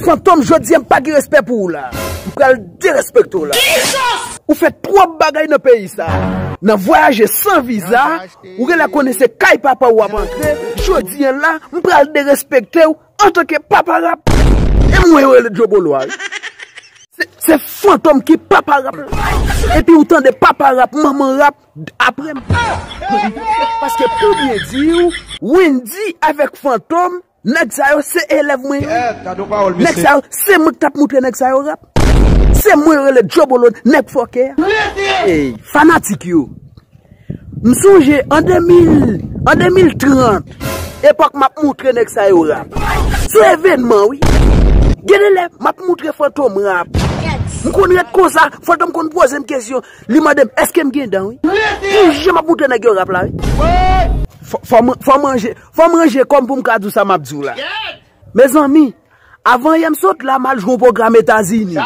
Fantom jodi a m pa gen respè pou ou la. M pral derespekte w la. Ou fè twòp bagay nan peyi sa. Nan vwayaje san viza. Ou genlè konnen se kay papa w wap antre. Jodi an la m pral derespekte w antanke papa rap. E mwen yo rele Djo Bolo a wi. Se Fantom ki papa rap la. Epi ou tande papa rap manman rap apre m. Paske pou byen di w. Wendy avèk Fantom Nèg sa yo se elèv mwen yo. Nèg sa yo se mwen ki tap moutre nèg sa yo rap. Se mwen yo rele Jobolon, nèg fòkè a. Ey fanatik yo. M sonje an 2030, epòk map moutre nèg sa yo rap. Se evènman wi. Gen de lè map moutre Fantom rap. M konn ret konsa, Fantom konn poze m kesyon. Li mande m eske m gen dan wi. Pou jan map moutre nèg yo rap la wi. Fò manje, Fòm ranje kòm poum ka diw sa map diw la. Mezanmi Avan yè m sot la mal jwe yon pwogram etazini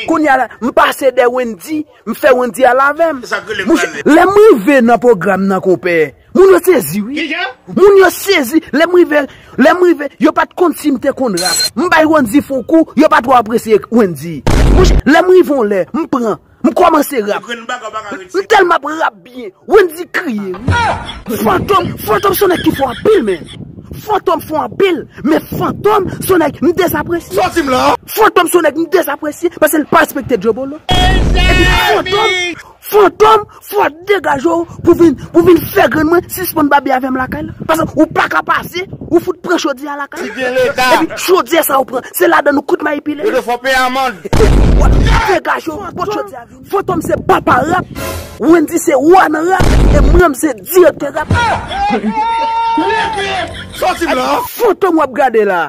Kounya la m pase dè Wendy m fè Wendy al avèm Monchè lèm rive nan pwogram nan konpè Moun yo sezi wi Moun yo sezi lèm rive lèm rive yo pat konn sim te konn rap m bay Wendy fon kou yo pa twò apresye Wendy Monchè lèm rive yon lè m pran M komanse rap. M telman ap rap byen. Wendy kriye wi. Fantom fantom son nèg ki fò anpil men. Fantom fò anpil men fantom son nèg m dezapresye. Fantom son nèg m dezapresye paske l pa respekte djobolo. Epi fantom fantom Fòk degaje w pou vin pou vin fè grann mwen sispann babye avè m lakay la. Paske ou pa ka pase, ou fout pran chodyè a lakay la. Kite leta. Epi chodyè sa ou pran, se ladann ou kout mayi pile. Yo dwe fè w peye amand. Fòk degaje w pot chodyè a vini. Fantom se papa rap, Wendy se wa nan rap e mwen menm se direktè rap. Leke! Sòti m lan! Fantom wap gade la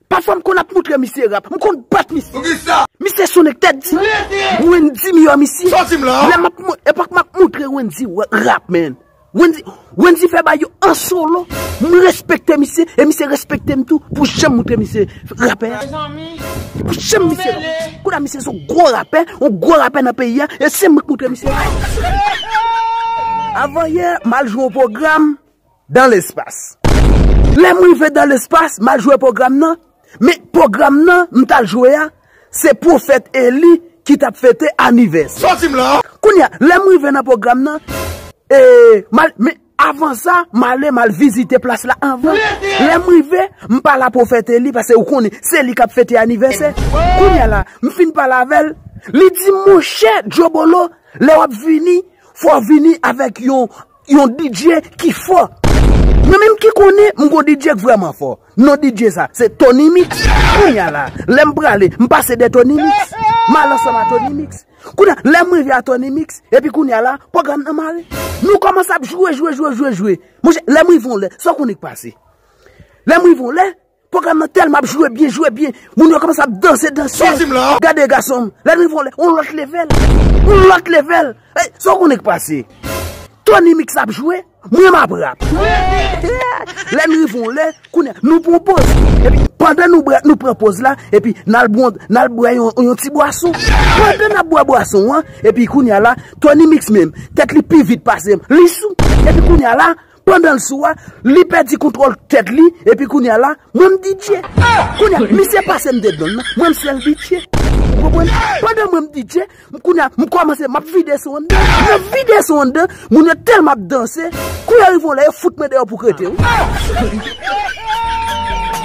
Pafwa m konn ap moutre misye rap, m konn bat misye. Poukisa? Misye son nèg tèt di. Rete! Wendy miyò misye. Soti m la! Lè m ap, epòk m ap moutre Wendy rap man. Wendy, Wendy fè bagay yo an solo. M respekte misye e misye respekte m tou pou jan m moutre misye rapè a. Mezanmi, nou mele! Kounye a misye se yon gwo rapè, yon gwo rapè nan peyi a e se mwen k moutre misye rap. Avanyè, m al jwe yon pwogram, Dans l'espace. Lè m rive dans l'espace, m al jwe pwogram nan, men pwogram nan m t al jwe a, se pwofèt Eli ki t ap fete anivèse. Sòti m la! Kounye a, lè m rive nan pwogram nan, e, m al, men, avan sa, m ale, m al vizite plas la anvan. Lè m rive, m pale a pwofèt Eli, paske ou konnen, se li k ap fete anivèse. Kounye a la, m fin pale avè l, li di m, monchè, Djobolo, lè w ap vini, fò w vini avèk yon, Yon DJ ki fò. Mwen menm ki konnen m gon DJ k vrèman fò. Non DJ sa, se Tony Mix. Kounye a la, lè m prale, m pase dè Tony Mix. M al ansanm a Tony Mix. Kounye a, lè m rive a Tony Mix, epi kounye a la, pwogram nan mare. Nou kòmanse ap jwe, jwe, jwe, jwe, jwe. Monchè, lè m rive yon lè, sa w konnen k pase? Lè m rive yon lè, Program nan telman ap jwe byen jwe byen moun yo komanse ap danse danse gade gasonm lèd rive yon lòt level yon lòt level ey sa w konnen k pase Tony mix ap jwe mwen m ap rap lèd n rive yon lè kounye nou pran poz epi pandan nou bwè nou pran poz la epi n al bwè n al bwè yon ti bwason pandan n ap bwè bwason an epi kounye la Tony mix menm tèt li pi vit pase m li sou epi kounye la Pandan l sou a, li pèdi kontwòl tèt li, epi kounye a la, mwen m DJ. Kounye a, misye pase m dedan nan, mwen m sèl DJ. Ou konprann? Pandan mwen m DJ, kounye a, m kòmanse, m ap vide son anndan. M ap vide son anndan, moun yo tèlman ap danse, kou yo rive yon lè, yo fout mwen deyò pou krete wi.